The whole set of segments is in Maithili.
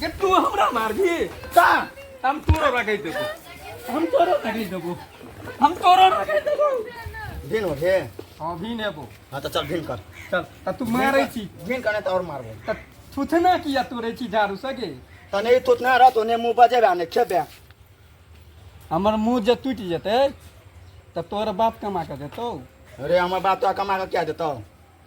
के तू हमरा मारबी ता हम तोरो रखै देबो हम तोरो रखै देबो हम तोरो रखै देबो भिन हो हे हां भिन हेबो हां त चल भिन कर चल त तू मारै छी भिन कने त और मारबो त थुथना किया तोरे छी झाड़ू सके तने थुथना रह तोने मुंह बजे बाने खेबे हमर मुंह जे टूट जेते त तोर बाप कमा के देतो अरे हमर बाप तो कमा के क्या देतो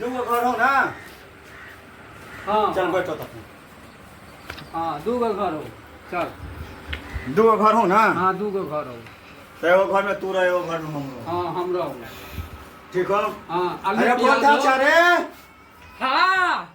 दूगो घर हो ना हाँ चल बैठो तब हाँ दू गो घर हो चल दूगो घर हो ना हाँ दू गो घर हो तो एगो घर में तू रह एगो घर में हम रह हाँ हम रहो ठीक हो हाँ अरे आलू बहुत प्याज अच्छा हो। रे हाँ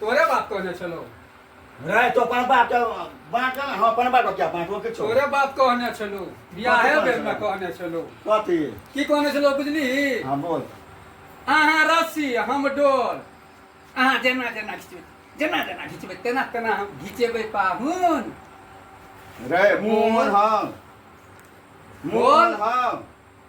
तोरे बाप कहने छलो रे तो अपन बाप के बाँट ना हम अपन बाप के क्या बाँटो के छो तोरे बाप कहने छलो बियाहे कथी बेर में कहने कहने छलो कथी की कहने छलो बुझली हाँ बोल अहाँ रस्सी हम डोल अहाँ जेना जेना घिचबै जेना जेना घिचबै तेना तेना हम घिचेबै पाहुन रे मोहन हम मोहन हम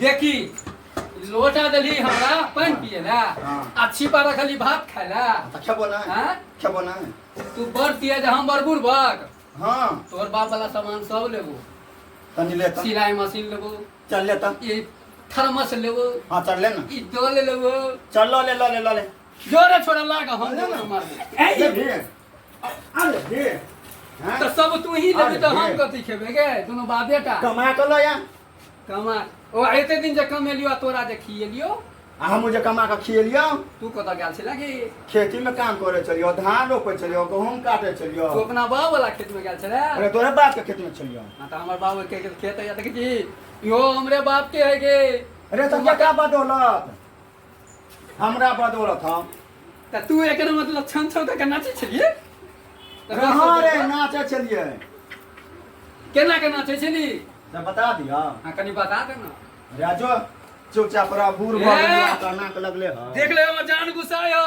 देखी लोटा देली हमरा पानि पिए ला हाँ। आ छिपा रखली भात खाय ला तो खेबो ना हाँ? खेबो ना तू बड़ तेज हम बड़ बुड़बक हाँ तोहर बाप वाला सामान सब लेबो तनी ले तो सिलाई मशीन लेबो चल ले तो ई थर्मस लेबो हाँ चल ले ना ई डोल लेबो चल लो ले लो ले लो ले जोरे छोड़ा लागा हम ले ना। मारबो ए, ये भी है। अरे हे हैं? तो सब तू ही लेबे तो हम कथी खेबे गे दोनों बाबे टा कमा के लो या कमा ओ एते दिन जे कमेलियो आ तोरा जे खिएलियो आ हम जे कमा के खिएलियो तू कत गेल छला कि खेती में काम करे चलियो धान रोपे चलियो गहूम काटे चलियो तू अपना बाप वाला खेत में गेल छला अरे तोरे बाप के खेत में चलियो ना तो हमर बाप के खेत है देख जी यो हमरे बाप के है गे अरे तब क्या बात होलक हमरा बदौलत हम तऽ तू एकर मतलब छन छौ तऽ नाचै छलियै तऽ रहा नाचै रे छलियै। नाचै छलियै केना के नाचै छली तऽ बता दिअ हाँ कनी बता दे ना राजो चुपचाप रह बूढ़ भऽ गेलियै, ए! तऽ नाक लगले हँ देख ले हमर जान गुस्सा यौ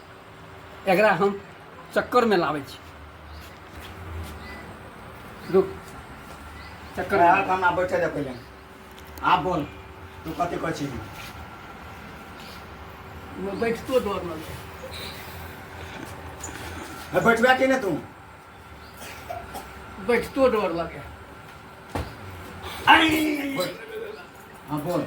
एकरा हम चक्कर में लावे छी रुक चक्कर में आब हमरा बैठे दे पहिले आब बोल तू कथी कहै छी बैठतो डर लगै बैठबे कि नहि तू बैठतो डर लगे हाँ बोल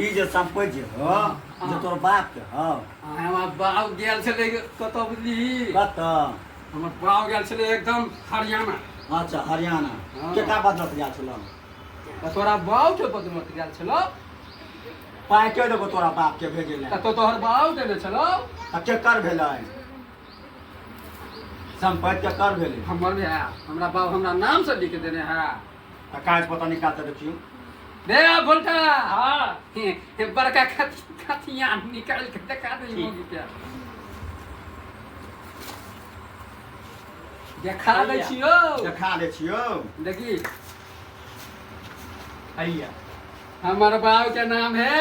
ई जे संपत्ति जे हो जे हाँ। तोर बाप के हो हमार बाप गेल छले कत बुझली कत हमर बाप गेल छले एकदम हरियाणा अच्छा हरियाणा हाँ। केटा बदलत गेल छलो त तोरा बाप के बदलत गेल छलो पाइ के देबो तोरा बाप के भेजे ले त तो तोहर बाप देले छलो त केकर भेलै संपत्ति के कर भेलै हमर भए हमरा बाप हमरा नाम से लिख देने है तऽ काज पता निकाल तऽ देखियौ दे बोलका हाँ हे, हे, बड़का खत खतिया निकाल के दिखा दे ठीक। मुंह के देखा दे भैया। छियो देखा दै छियौ देखी हैया हमर बाप के नाम है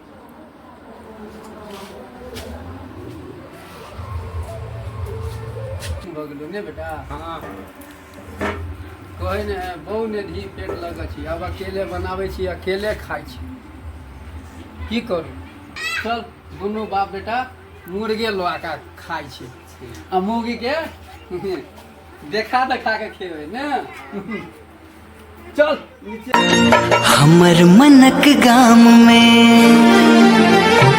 भऽ गेलौ ने बेटा हाँ कहै ने बहु ने धी पेट लगै छी आब अकेले बनाबै छी अकेले खाइ छी की करू चल दुनू बाप बेटा मुर्गे लऽ कऽ खाइ छी आ मुर्गीके देखा देखा कऽ खेबै ने चल हमर मनक गाम में